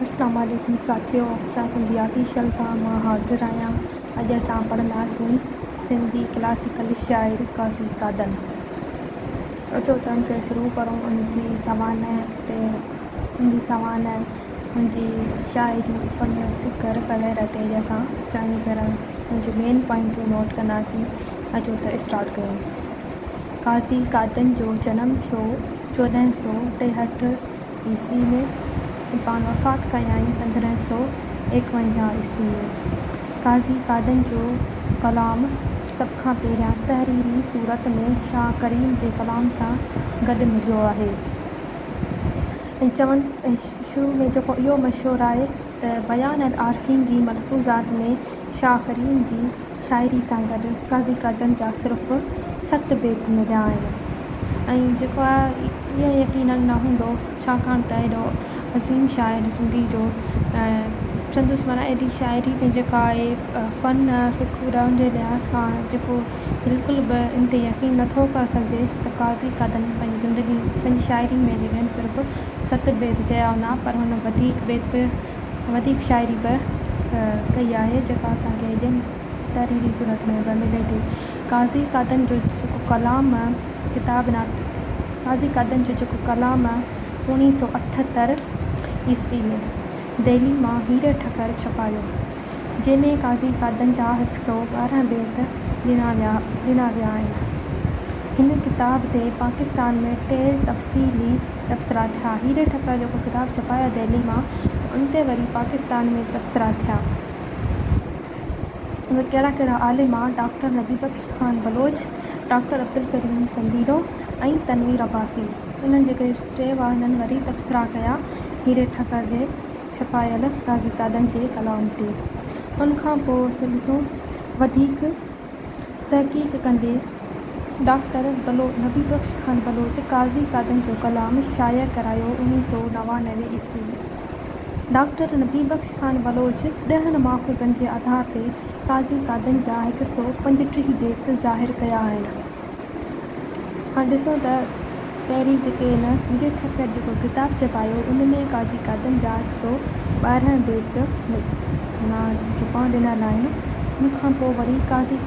اسلام عليڪم ساٿيو افسا سنڌي آفيشل تان مان حاضر آهيان اڄ اسان پڙهنداسين سنڌي ڪلاسيڪل شاعر قاضي قادن جو تنهن کي شروع ڪرون ان جي سوانح تي ان جي سوانح ان جي شاعري فن فڪر وغيره تي اڄ اسان چڱي طرح ان جون مين پوائنٽون نوٽ ڪنداسين اچو ته اسٽارٽ ڪيون قاضي قادن جو جنم ٿيو چوڏهن سؤ ٽيهٺ عيسوي ۾ ۽ پاڻ وفات ڪيائين پندرهن سؤ ايڪونجاهه عيسوي ۾. قاضي قادن جو ڪلام سڀ کان پهريان تحريري صورت ۾ شاهه ڪريم جي ڪلام سان گڏ مليو آهي ۽ چون ۽ شروع ۾ جيڪو اهو مشهور آهي. ته بيان العارفين جي ملفوظات ۾ شاهه ڪريم جي شاعري سان گڏ قاضي قادن جا صرف ست بيت مليا آهن ۽ جيڪو آهي اهو يقينن نه هوندو ڇاڪاڻ ته ايڏو عظيم شاعر سنڌي جو ۽ سندس معنيٰ ايڏي شاعري ۾ جيڪا آهي فن فڪر جي لحاظ کان جيڪو بلڪل به ان تي يقين نه ٿو ڪري سگهجي ته قاضي قادن پنهنجي زندگي پنهنجي شاعري ۾ جڏهن صرف ست بيت چيا هوندا پر هن وڌيڪ بيت به وڌيڪ شاعري به ڪئي آهي جيڪا اسان کي ايڏين تحريري صورت ۾ به ملي ٿي قاضي قادن جو جيڪو ڪلام ڪتاب نه قاضي قادن جو جيڪو ڪلام اوڻيهه سؤ اٺهتر عيسوي ۾ دهلي مان هيري ٺڪر ڇپايو جنهن ۾ قاضي قادن جا هڪ سؤ ٻارهن بيت ڏنا ويا ڏنا ويا آهن. هن ڪتاب تي پاڪستان ۾ ٽي تفصيلي تبصرا ٿيا. هيري ٺڪر جيڪو ڪتاب ڇپايو دهلي مان ته ان تي وري پاڪستان ۾ تبصرا ٿيا. اهي ڪهڙا ڪهڙا عالم آ ڊاڪٽر نبي بخش خان بلوچ، ڊاڪٽر عبدالڪريم سنڌيڙو ۽ تنوير عباسي. انهن جيڪي ٽي واهنن وري تبصرا ڪيا هيري ٺڪر جي. ڇپايل تازي تعداد جي ڪلام تي ان کان پوء سلسو وڌيڪ تحقيق ڪندي ڊاڪٽر نبي بخش خان بلوچ قاضي قادن جو ڪلام شايع ڪرايو اڻويهه سؤ نوانوي عيسوي ڊاڪٽر نبي بخش خان بلوچ ڏهن ماخذن جي آڌار تي قاضي قادن جا هڪ سؤ پنجٽيهه بيت ظاهر ڪيا آهن. هاڻ ڏسون ته پهرين جيڪي هن هيري ٺڪر جيڪو ڪتاب ڇپايو ان ۾ قاضي قادن جا هڪ سئو ٻارنهن بيت معنيٰ چوپائون ڏنل آهن ان کان پوء وري قاضي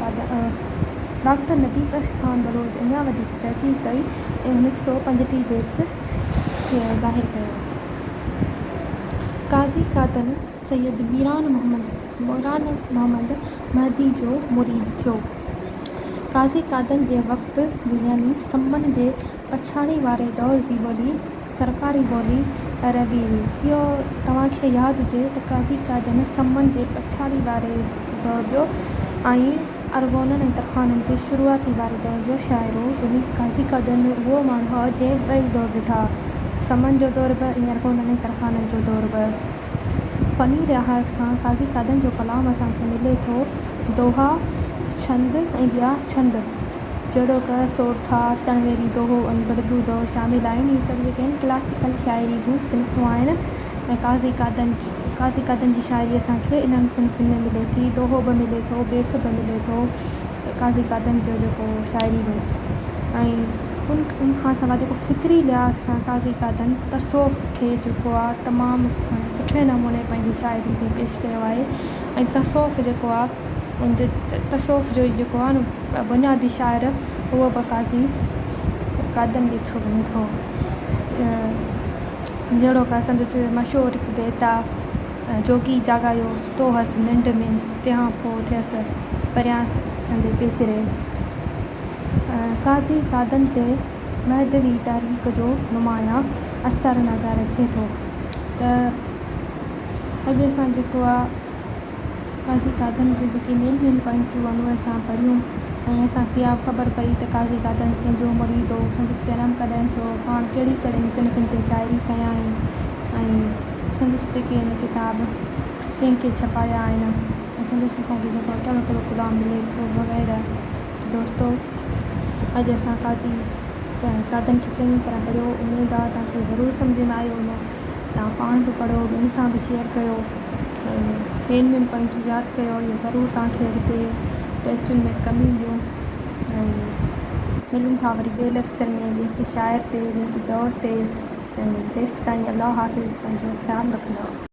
ڊاڪٽر نبي بخش خان بلوچ اڃا وڌيڪ تحقيق ڪئي ۽ هن هڪ سئو پنجٽيهه بيت کي ظاهر ڪيو قاضي قادن سيد ميران محمد ميران محمد مهدي جو مريد ٿيو. قاضي قادن جي وقت جي يعني سمن جي پڇاڙي واري دور جي ٻولي سرڪاري ٻولي عربي هئي. اهو توهان کي ياد هجي ته قاضي قادن سمن جي پڇاڙي واري دور جو ۽ ارغونن ۽ ترخانن جي شروعاتي واري دور جو شاعر هو. يعني قاضي قادن اهو ماڻهو هو جنهن ٻئي دور ڏٺا، سمن جو دور به ۽ ارغونن ۽ ترخانن جو دور به. فني لحاظ کان قاضي قادن جو ڪلام اسان کي ملي ٿو. دوها، ڇند ۽ ٻيا ڇند جهڙوڪ، سورٺا، تنويري دوهو ۽ بڙبو دوهو شامل آهن. اهي سڀ جيڪي آهن ڪلاسيڪل شاعري جون صنفون آهن ۽ قاضي قادن قاضي قادن جي شاعري اسان کي انهن صنفن ۾ ملي ٿي. دوهو به ملي ٿو، بيت به ملي ٿو. قاضي قادن جو جيڪو شاعري هئي ۽ ان کان سواء جيڪو فڪري لحاظ کان قاضي قادن تصوف کي جيڪو آ تمام سٺي نموني پنهنجي شاعري ۾ پيش ڪيو آهي ۽ تصوف جيڪو آ ان جي تصوف جو جيڪو آ نه بنيادي شاعر اهو به قاضي قادن ڏٺو وڃي ٿو جهڙوڪ سندس مشهور هڪ بيت آ جوڳي جاڳايو ستو هئس ننڊ ۾، تنهان پوء ٿيس پريان سندي پيچري. قاضي قادن تي مهدوي تحريڪ جو نمايان اثر نظر اچي ٿو ته اڄ اسان جيڪو آ قاضي قادن جون جيڪي مين مين پوائنٽون آهن اهي اسان پڙهيون ۽ اسان کي اها خبر پئي ته قاضي قادن ڪنهن جو مريد هو، سندس جنم ڪڏهن ٿيو، پاڻ ڪهڙي ڪهڙي مصنفن تي شاعري ڪيائين ۽ سندس جيڪي هن ڪتاب ڪنهن ڪنهن ڇپايا آهن ۽ سندس اسان کي جيڪو اٽل اڪلو ڪلام ملي ٿو وغيره ته دوستو اڄ اسان قاضي قادن کي چڱي طرح پڙهيو اميد آهي توهان کي ضرور سمجهه ۾ آيو هوندو توهان پاڻ به پڙهو ٻين سان به شيئر ڪيو ۽ مين مين پوائنٽون ياد ڪيو اهي ضرور توهان کي اڳتي ٽيسٽن ۾ ڪم اينديون ۽ ملون ٿا وري ٻئي ليڪچر ۾ ٻئي ڪنهن شاعر تي ٻئي ڪنهن دور تي ۽ تيسين تائين الله حافظ پنهنجو خيال رکندا